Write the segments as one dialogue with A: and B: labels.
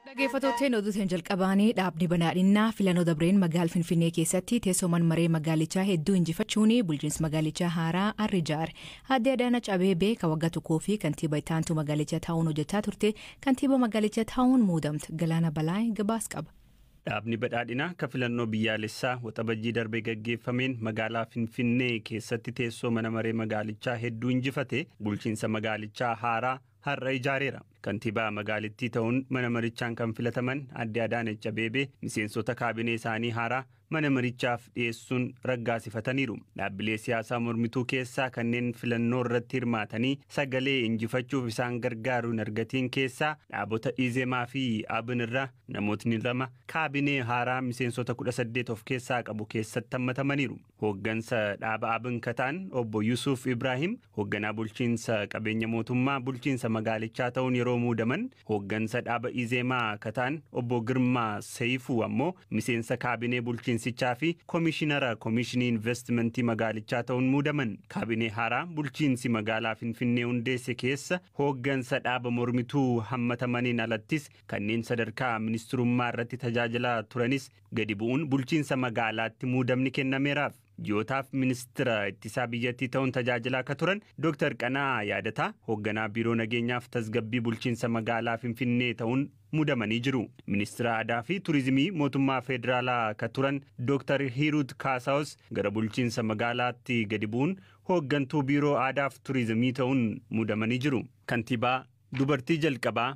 A: Dhageeffattootteen oduu tan jalqabaanii dhaabni banaadhinnaa filannoo dabreen magaal Finfinnee keessatti teessooman maree magaalichaa hedduu injifachuun bulchiinsi magaalichaa haaraa arri jaare. Aadde Adaanach Abeebee ka waggaa tokkoo fi kantiiba itti aantuu magaalichaa taa'uun hojjechaa turte kantiiba magaalichaa taa'uun muudamte. Galaana Balaay gabaas qaba. Dhaabni badhaadhinaa
B: ka filannoo biyyaalessaa waxabajjii darbe gaggeeffameen magaalaa Finfinnee keessatti teessoo mana maree magaalichaa hedduu injifate bulchiinsa magaalichaa haaraa har'a ijaareera. Kantiibaa magaalittii ta'uun mana marichaan kan filataman Aadde Adaanech Abeebee miseensota kaabinee isaanii haaraa mana marichaaf dhiyeessuun raggaasifataniiru. Dhaabbilee siyaasaa mormituu keessaa kanneen filannoo irratti hirmaatanii sagalee injifachuuf isaan gargaaru hin argatiin keessaa dhaabota Izemaa fi Abin irraa namootni lama kaabinee haaraa miseensota 18 of keessaa qabu keessatti hammatamaniiru. Hooggansa dhaaba abn ka ta'an obbo Yusuuf Ibraahim hoogganaa bulchiinsa qabeenya mootummaa bulchiinsa magaalichaa ta'uun yeroo muudaman, hooggansa dhaaba Izeemaa ka ta'an obbo Girmaa Seyifuu ammoo miseensa kaabinee bulchiinsichaa fi komishinara komishinii invastimantii magaalichaa ta'uun muudaman. Kaabinee haaraa bulchiinsi magaalaa Finfinnee hundeesse keessa hooggansa dhaaba mormituu hammatamaniin alattis kanneen sadarkaa ministirummaa irratti tajaajilaa turanis gadi bu'uun bulchiinsa magaalaatti muudamni kennameeraaf. Ji'ootaaf ministira ittisaa biyyattii ta'uun tajaajilaa akka turan Dooktar Qana'aa Yaadataa hoogganaa Biiroo Nageenyaaf Tasgabbii Bulchiinsa Magaalaa Finfinnee ta'uun muudamanii jiru. Ministira Aadaa fi Turizimii mootummaa Federaalaa akka turan Dooktar Hiiruut Kaasaawus gara bulchiinsa magaalaatti gadi bu'uun hooggantuu Biiroo Aadaaf Turizimii ta'uun muudamanii jiru. Kantiibaa dubartii jalqabaa.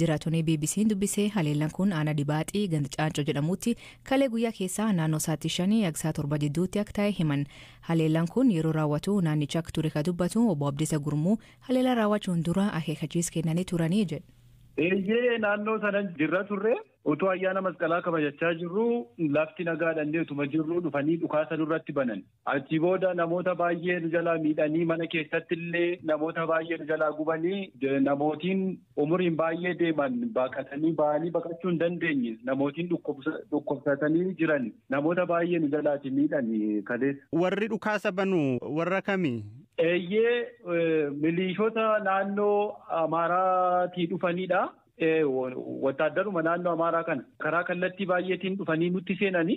A: Jiraattonni BBC'n dubbise haleellan kun aanaa Dibaaxii ganda Caancoo jedhamuutti kalee guyyaa keessaa naannoo sa'aatii shanii hanga sa'a torba jidduutti akka taa'e himan. Haleellan kun yeroo raawwatu naannicha akka ture ka dubbatu obbo Abdiisa Gurmuu haleellaa raawwachuun dura akeekachiis kennanii turanii jedhu. Eeyyee
C: naannoo sana jirra turre utuu ayyaana masqalaa kabajachaa jirruu lafti nagaadha illee utuma jirruu dhufanii dhukaasa nurratti banan. Achii booda namoota baay'ee nu jalaa miidhanii mana keessatti illee namoota baay'ee nu jalaa gubanii namootiin umuriin baay'ee deeman baqatanii ba'anii baqachuu hin dandeenye namootiin dhukkubsatanii jiran namoota baay'ee nu jalaati miidhan kaleessa. Warri dhukaasa banu
B: warra kami? Eeyyee
C: miliishota naannoo Amaaraatii dhufanidha. Wattaaddaruma naannoo Amaaraa kana karaa kallattii baay'eetiin dhufanii nutti seenanii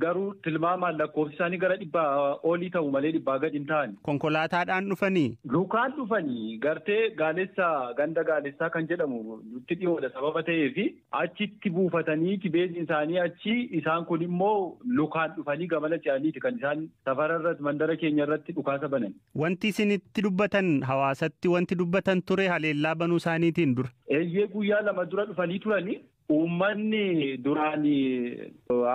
C: garuu tilmaamaan lakkoofsi isaanii gara dhibbaa olii ta'u malee dhibbaa gadi hin ta'ani. Konkolaataadhaan dhufanii?
B: Lukaan dhufanii
C: gartee gaalessaa ganda gaalessaa kan jedhamu nutti dhiyoodha sababa ta'eef achitti buufatanii beeziin isaanii achi isaan kun immoo lukaan dhufanii gamana ce'aniiti kan isaan safara irratti mandara keenya irratti dhukaasa banan. Wanti isin itti
B: dubbatan hawaasatti wanti dubbatan ture haleellaa banuu isaaniitiin dura. Eeyyee guyyaa lama
C: dura dhufanii turani. Uummanni duraan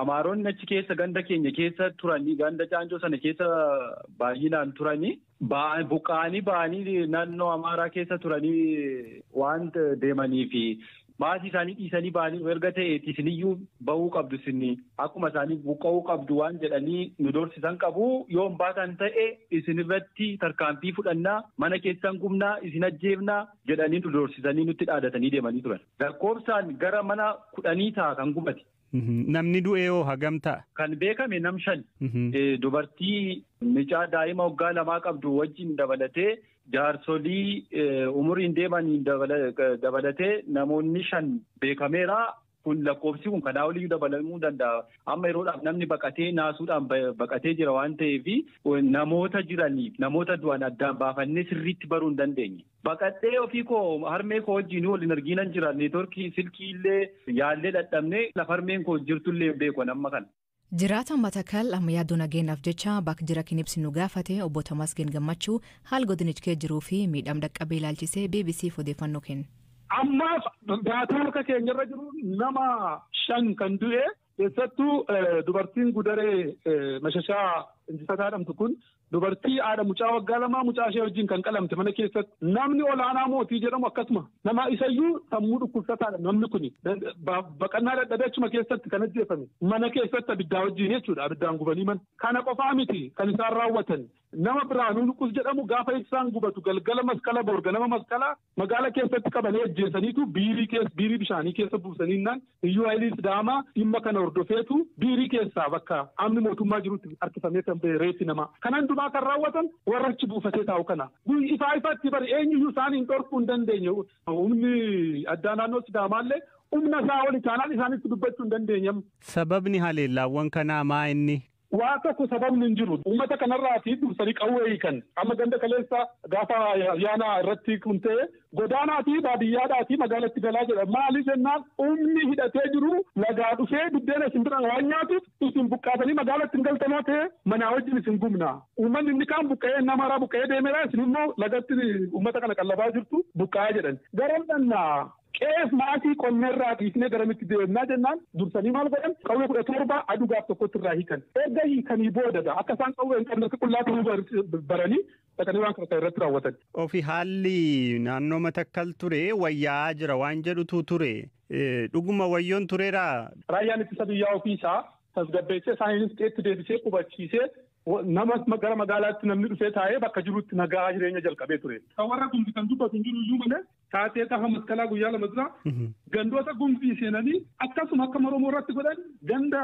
C: Amaaronni achi keessa ganda keenya keessa turanii ganda Caancoo sana keessa baay'inaan turanii buqqa'anii ba'anii naannoo Amaaraa keessa turanii waan deemaniif Maasii isaanii dhiisanii ba'aniiru erga ta'eeti isiniyyuu ba'uu qabdu isin akkuma isaanii buqqa'uu qabdu waan jedhanii nu dorsisan qabu yoo hin baatan ta'e isin irratti tarkaanfii fudhannaa mana keessan gubnaa isin ajjeefnaa jedhanii nu dorsisanii nutti dhaadatanii deemanii turan lakkoofsaan gara mana kudhanii ta'a kan gubate. Mhm. Namni du'ee
B: hoo hagam ta'a? Kan beekame nam shan.
C: Mhm. Eh, Dubartii mucaa daa'ima waggaa lamaa qabdu wajjin dabalatee jaarsolii eh, umuriin deemaniin dabala- eh, dabalatee namoonni shan beekameera. Kun lakkoofsi kun kanaa oliyyuu dabalamuu danda'a. Amma yeroodhaaf namni baqatee naasuudhaan ba- baqatee jira waan ta'eef namoota jiraniif namoota du'an addaan baafannee sirriitti baruu hin dandeenye. Baqadhee ofii koo harmee koo wajjin wal hin argiinan jira. Neetworkii silkii illee yaallee dhadhabnee lafa harmeen koo jirtu illee hin beeku amma kana. Jiraataan Matakal
A: amma yaaddoo nageenyaaf jecha bakk jira kin ibsinu gaafate Obbo Tamasgeen Gammachuu haal godinichkee jiruu fi miidhaam dhaqqabee ilaalchisee BBCf odeeffannoo kenne. Ammaaf
D: daataa harka keenyarra jiruun nama shan kan du'e Keessattuu dubartiin gudaree mashashaa injifataa dhamtu kun dubartii haadha mucaa waggaa lamaa mucaa ishee wajjin kan qalamte mana keessatti namni olaanaa mootii jedhamu akkasuma nama isayyuu sammuu dhukkubsataadha namni kun baqannaa dadhabee achuma keessatti kan ajjeefame mana keessatti abiddaa wajjin jechuudha abiddaan gubanii mana kana qofaa miti kan isaan raawwatan nama biraanuu nuqus jedhamu gaafa ibsaan gubatu galgala maskala borga nama maskala Magaala keessatti qabanii ajjeesaniitu biirii keessa biirii bishaanii keessa buusaniinnaan liyyuu haayilii Sidaamaa dhimma kana hordofeetu biirii keessaa bakka amni mootummaa jirutti harkifamee kan ba'e reeffi namaa. Kana hundumaa kan raawwatan warra achi buufatee taa'u kana. Ifaa ifatti bari eenyuyyuu isaaniin dhorkuu hin dandeenye. Humni addaa naannoo Sidaamaallee humna isaa oli taanaan isaanitti dubbachuu hin dandeenye. Sababni haleellaawwan
B: kanaa maa inni? Waa tokko sababni
D: hin jiru. Uummata kanarraati dursanii qawwee hiikan. Amma ganda kaleessa gaafa ayyaana irratti kun ta'e godaanaatii baadiyyaadhaatii magaalatti galaa jedha. Maaliif jennaan humni hidhatee jiru lagaa dhufee buddeena isin bira waan nyaatuuf isin buqqaatanii magaalatti hin galtanoo ta'e manaa wajjin isin gubna. Uummanni inni kaan buqqa'ee nama haaraa buqqa'ee deemeera isin immoo lagatti uummata kana qallabaa jirtu buqqa'aa jedhan. Garam dhannaa? Qe'eef maasii qonna irraa dhiisnee garamitti deemnaa jennaan dursanii maal godhan qawwee kudha torba aduu gaaf tokkotti irraa hiikan. Erga hiikanii booda gaa akka isaan qawwee hin qabne akka qullaa ta'uu bar- baranii dhaqanii waan kana kan irratti raawwatan. Ofi haalli
B: naannoo matakkal ture wayyaa'aa jira waan jedhutu ture. Eh, Dhuguma wayyoon tureeraa? Raayyaan ittisa biyyaa
D: ofii isaa tasgabbeessee isaaniinis qeetti deebisee qubachiisee wa- nama ma- gara magaalaatti namni dhufee taa'ee bakka jirutti nagaa jireenya jalqabee ture. Kan warra kun kan dubbatu hin jiru iyyuu malee taatee gaafa maskalaa guyyaa lama dura gandoota gumzii seenanii akkasuma akka maromoo irratti godhan ganda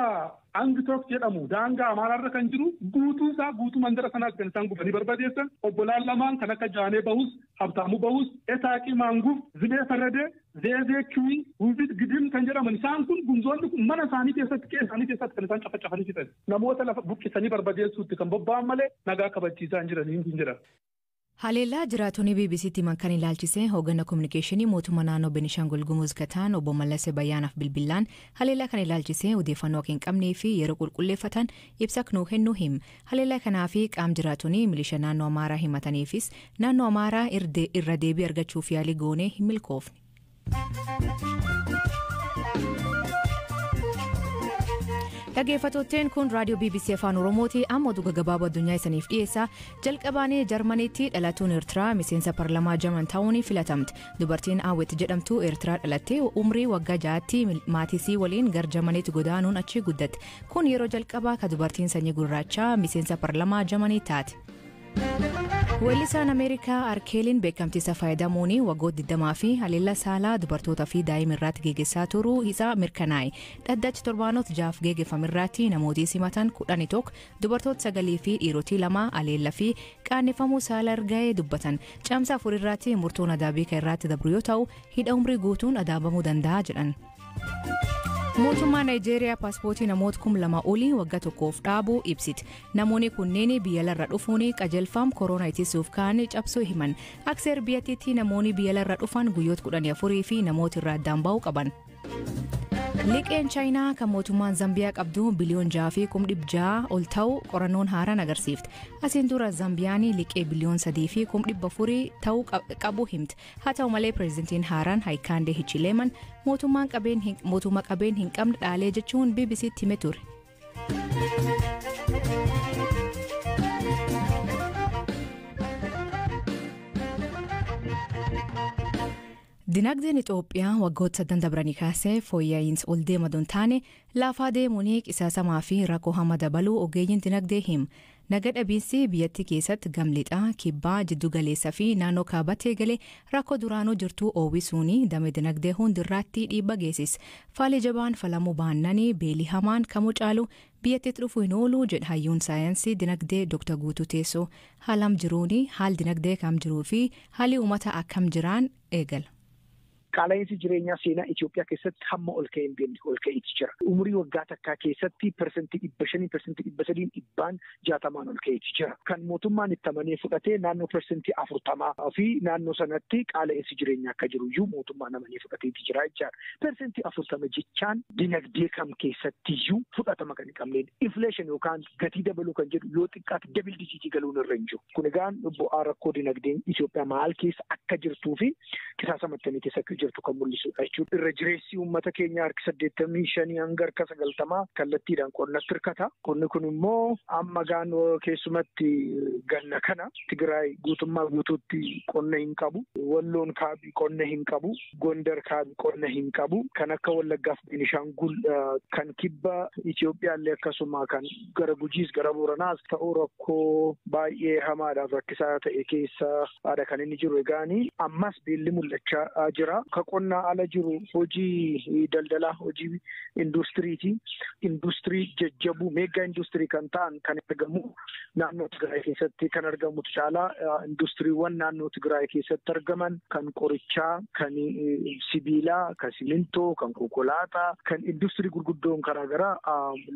D: angitook jedhamu daangaa amaaraarra kan jiru guutuu isaa guutuu mandara sanaas kan isaan gubanii barbadeessan obbolaan lamaan kan akka jaanee bahus habtaamuu bahus etaaqii maanguuf zibee farradee zeezee kiwii guufiit gidim kan jedhaman isaan kun gumzoonni kun mana isaanii keessatti qe'ee isaanii keessatti kan isaan cafacafanii fixan namoota lafa buqqisanii barbadeessuutti kan bobba'an malee nagaa kabachiisaa hin jiranii hin jedhan. Haleellaa
A: jiraatonni BBC'tti himan kan ilaalchisee hooggana kominikeeshinii mootummaa naannoo Benishangul Gumuz ka ta'an obbo Mallase Bayyaanaaf bilbillaan haleellaa kana ilaalchisee odeeffannoo akka hin qabnee fi yeroo qulqulleeffatan ibsa akka nuu kennu him. Haleellaa kanaa fi qaam jiraatonni milisha naannoo Amaaraa himataniifis naannoo Amaaraa irra deebii argachuuf yaalii goonee hin milkoofne. Dhaggeeffattootteen kun raadiyoo BBC Afaan Oromooti amma oduu gabaabaa addunyaa isaniif dhiyeessa jalqabaanee Jarmaniitti dhalatuun Eertiraa miseensa parlamaa Jarman ta'uun filatamte dubartiin Awwet jedhamtu Eertiraa dhalattee umrii waggaa ja'aatti maatisii waliin gar Jarmaniitti godaanuun achi guddatte kun yeroo jalqabaa ka dubartiin sanyii gurraachaa miseensa parlamaa Jarmanii taate. Weellisaan Ameerikaa Arkeeliin beekamtiisa fayyadamuun waggoota 20 fi haleellaa saalaa dubartootaa fi daa'ima irratti geggeessaa turuu isaa mirkanaa'e. Dhaddachi torbaanota jahaaf geggeeffame irratti namooti simatan 11 dubartoota sagalii fi dhiirotii lama haleellaa fi qaanneffamuu saala erga'ee dubbatan. Caamsaa afur irratti murtoon adaabii kan irratti dabru yoo ta'u hidha umrii guutuun adaabamuu danda'a jedhan. Mootummaa Naayijeeriyaa paaspoortii namoota kum lama olii wagga tokkoof dhaabuu ibsite. Namoonni kunneen biyyalarra dhufuun qajeelfama koroonaa ittisuuf ka'an cabsuu himan. Akka seera biyyattiitti namoonni biyyalarra dhufan guyyoota kudhanii afurii fi namoota irraa addaan ba'uu qaban. Liqeen Chaayinaa kan mootummaan Zambiyaa qabdu biliyoon jaha fi kum dhibba jaha ol ta'u qorannoon haaraan agarsiifte. Asiin dura Zambiyaan liqee biliyoon sadii fi kum dhibba afurii ta'u qabu himte. Haa ta'u malee pireezidantiin haaraan Haayikaandee Hichileeman mootummaan qabeen hin- mootummaa qabeen hin qabne dhaalee jechuun BBC'tti hime ture. Dinagdeen Itoophiyaa waggoota sadan dabranii kaasee fooyya'iinsa ol deema don taane laafaa deemuun qisaasamaa fi rakkoo hama dabaluu ogeeyyiin dinagdee him. Naga dhabiinsi biyyattii keeysatti gam lixaa, kibbaa, jiddu galeessa fi naannoo kaabatti eegale rakkoo duraanuu jirtuu oowwisuun dame dinagdee hundi irraatti dhiibba geesis. Faalii jabaan falamuu baannani beelii hamaan kamuu caalu biyyattiitti dhufuu hin oolu jedha hayyuun saayansii dinagdee Dr Guutuu Teessoo. Haalam jiruuni, haal dinagdee kam jiruu fi haalii uumataa akkam jiraan eegala. Qaala'iinsi
E: jireenyaa seenaa Itoophiyaa keessatti hamma ol ka'ee hin beekne ol ka'ee ti jira. Umurii waggaa takkaa keessatti persentii dhibba shaniin, persentii dhibba sadiin, dhibbaan jaatamaan ol ka'ee ti jira. Kan mootummaan itti amanee fudhate naannoo persentii afurtamaa fi naannoo sanatti qaala'iinsi jireenyaa akka jiru iyyuu mootummaan amanee fudhatee ti jira jechaa dha. Persentii afurtama jechaan dinagdee kam keessatti iyyuu fudhatama kan hin qabnee dha. Inflation yookaan gatii dabaluu kan jedhu yoo xiqqaatti dabil dijiitii galuun irra hin jiru. Kun egaa bu'aa rakkoo dinagdeen Itoophiyaa maal keessa akka jirtuu fi qisaasama akkamii keessa akka jirtu kan mul'isudha jechuudha. Irra jireessi uummata keenya harki saddeettamii shanii hanga harka sagaltamaa kallattiidhaan qonnatti hirkata. Qonni kun immoo amma gaanoo keessumatti ganna kana Tigraay guutummaa guutuutti qonna hin qabu. Walloon kaabii qonna hin qabu. Gondar kaabii qonna hin qabu. Kan akka Wallaggaaf Beenishaangul kan kibba Itoophiyaallee akkasuma kan gara Gujiis gara Booranaas ta'uu rakkoo baay'ee hamaadhaaf rakkisaa ta'e keessa haadha kan inni jiru egaani ammas beelli mul'achaa jira. Ka qonnaa ala jiru hojii daldalaa hojii induustiriiti. Induustirii jajjabuu meeggaa induustirii kan ta'an kan argamu naannoo Tigraay keessatti kan argamutu caalaa induustiriiwwan naannoo Tigraay keessatti argaman kan qorichaa, kan sibiilaa, kan simintoo, kan konkolaataa, kan induustirii gurguddoon garaagaraa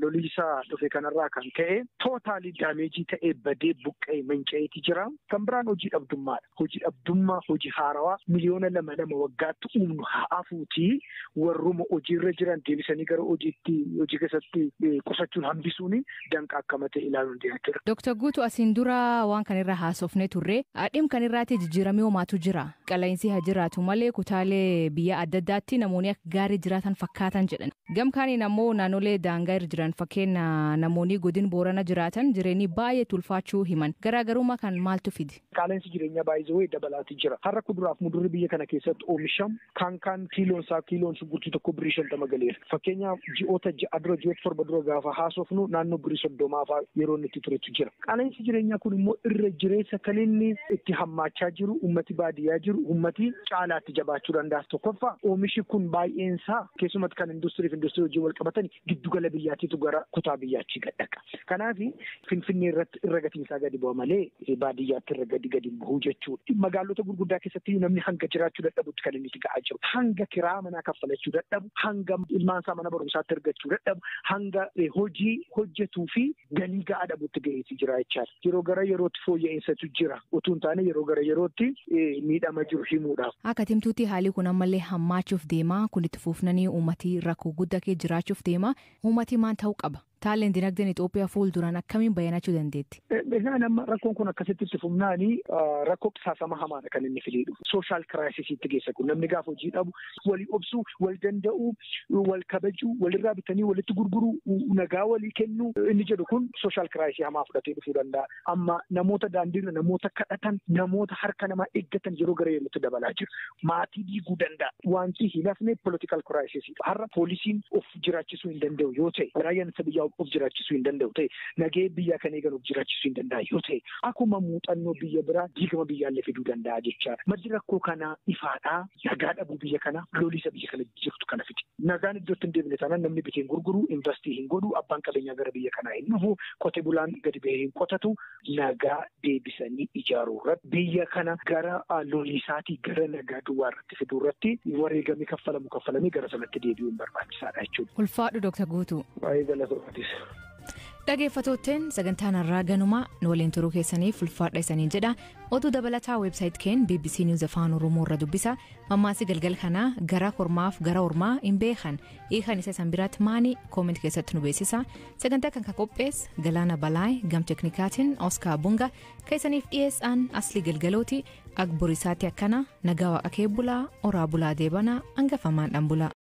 E: loliisaa dhufe kanarraa kan ka'e tootaalii daameejii ta'ee badee buqqa'ee manca'eeti jira. Kan biraan hojii dhabdummaadha. Hojii dhabdummaa hojii haarawaa miliyoona lama lama waggaatti uumnu haa afuutii warruma hojiirra jiran deebisanii gara hojiitti hojii keessatti qusachuun hambisuun danqa akkama ta'e ilaaluun jiraachudha. Dooktar Guutuu asiin
A: dura waan kan irraa haasofnee turre dhim kan irraatti jijjiiramee homaatu jira. Qala'insii haa jiraatu malee kutaalee biyyaa adda addaatti namoonni akka gaarii jiraatan fakkaatan jedhan. Gam kaaniin ammoo naannolee daangaa irra jiran fakkeenna namoonii godin Boorana jiraatan jireenii baay'ee itti ulfaachuu himan. Garaagarummaa kan maaltu fide? Qaaleensi jireenyaa by
E: the way dabalaati jira. Har'a kuduraaf mudurri biyya kana keessatti oomishamu kaan kaan kiiloon isaa kiiloon shunkurtii tokko birrii shantama galeera. Fakkeenyaaf ji'oota ja'a dura ji'oota torba dura gaafa haasofnu naannoo birrii soddomaa faa yeroo inni itti turetu jira. Qaaleensi jireenyaa kun immoo irra jireessa kan inni itti hammaachaa jiru ummati baadiyyaa jiru ummati caalaatti jabaachuu danda'a. Tokkoffaa oomishi kun baay'een isaa Keessumatti kan industirii fi industirii wajjin wal qabatan giddugala biyyaatiitu gara kutaa biyyaachii gad dhaqa. Kanaaf Finfinnee irratti irra gatiin isaa gadi bu'a malee baadiyyaatti irra gadi gadi bu'u jechuudha. Magaalota gurguddaa keessatti namni hanga jiraachuu dadhabutti kan inni itti ga'aa jiru. Hanga kiraa manaa kaffalachuu dadhabu, hanga ilmaan isaa mana barumsaatti ergachuu dadhabu, hanga hojii hojjetuu fi galii ga'aa dhabutti ga'eeti jira jechaadha. yeroo gara yerootti fooyya'insaatu jira utuu hin taane yeroo gara yerootti miidhama jiru himuudhaaf. Akka timtuutti haalii
A: kun ammallee hammaachuuf deema kun itti fuufnanii uummati rakkoo guddaa kee jiraachuuf deema uummati maan ta'uu qaba taaleen dinagdeen Itoophiyaa fuul duraan akkamiin bayyanachuu dandeetti. Egaan amma rakkoon
E: kun akkasitti itti fufnaanii rakkoo qisaasama hamaadha kan inni fidee dhufu. Sooshaal kiraayisisiitti geessa kun namni gaafa hojii dhabu walii obsuu, wal danda'uu, wal kabajuu, walirraa bitanii walitti gurguruu, nagaa walii kennuu inni jedhu kun sooshaal kiraayisii hamaa fudhatee dhufuu danda'a. Amma namoota daandiirra namoota kadhatan, namoota harka namaa eeggatan yeroo gara yerootti dabalaa jiru. Maatii diiguu danda'a. Wanti hin hafne poolitikaal kiraayisisii. Har'a poolisiin of jiraachisuu hin danda'u yoo ta'e, raayyaan ittisa biyyaa of jiraachisuu hin danda'u ta'e, nagahee biyyaa kan eegan of jiraachisuu hin danda'a yoo ta'e, akkuma muuxannoo biyya biraa diigama biyyaallee fiduu danda'a jechaadha. Maddi rakkoo kanaa ifaadhaa. nagaa dhabuu biyya kana looliisa biyya kana jirtu kana fide. Nagaan iddootti hin deebine taanaan namni bitee hin gurguru, investii hin godhu, abbaan qabeenyaa gara biyya kanaa hin dhufu, qote bulaan gadi bahee hin qotatu. Nagaa deebisanii ijaaruu irratti biyya kana gara looliisaatii gara nagaa duwwaa irratti fiduu irratti wareegamni kaffalamu kaffalamee gara sanatti deebi'uun barbaachisaadha jechuudha. Ulfaadhu Dr. Guutuu.
A: Baay'ee galatoomatis. Dhageeffattootteen sagantaan har'aa ganumaa nu waliin turuu keessaniif ulfaadha isaniin jedha Oduu dabalataa website keen bbc News Afaan Oromoo irra dubbisa mammaasi galgal kanaa gara kormaaf gara ormaa hin beekan hiikan isa san biraatti maani comment keessatti nu beeksisa sagantaa kan kan qophees galaana balaay gam teknikaatiin oskaa bunga keessaniif dhiyeessaan asli galgalooti agborisaatti akkana nagaa waaqa kee bulaa oraa bulaa deebanaa hangafamaan dhan bulaa.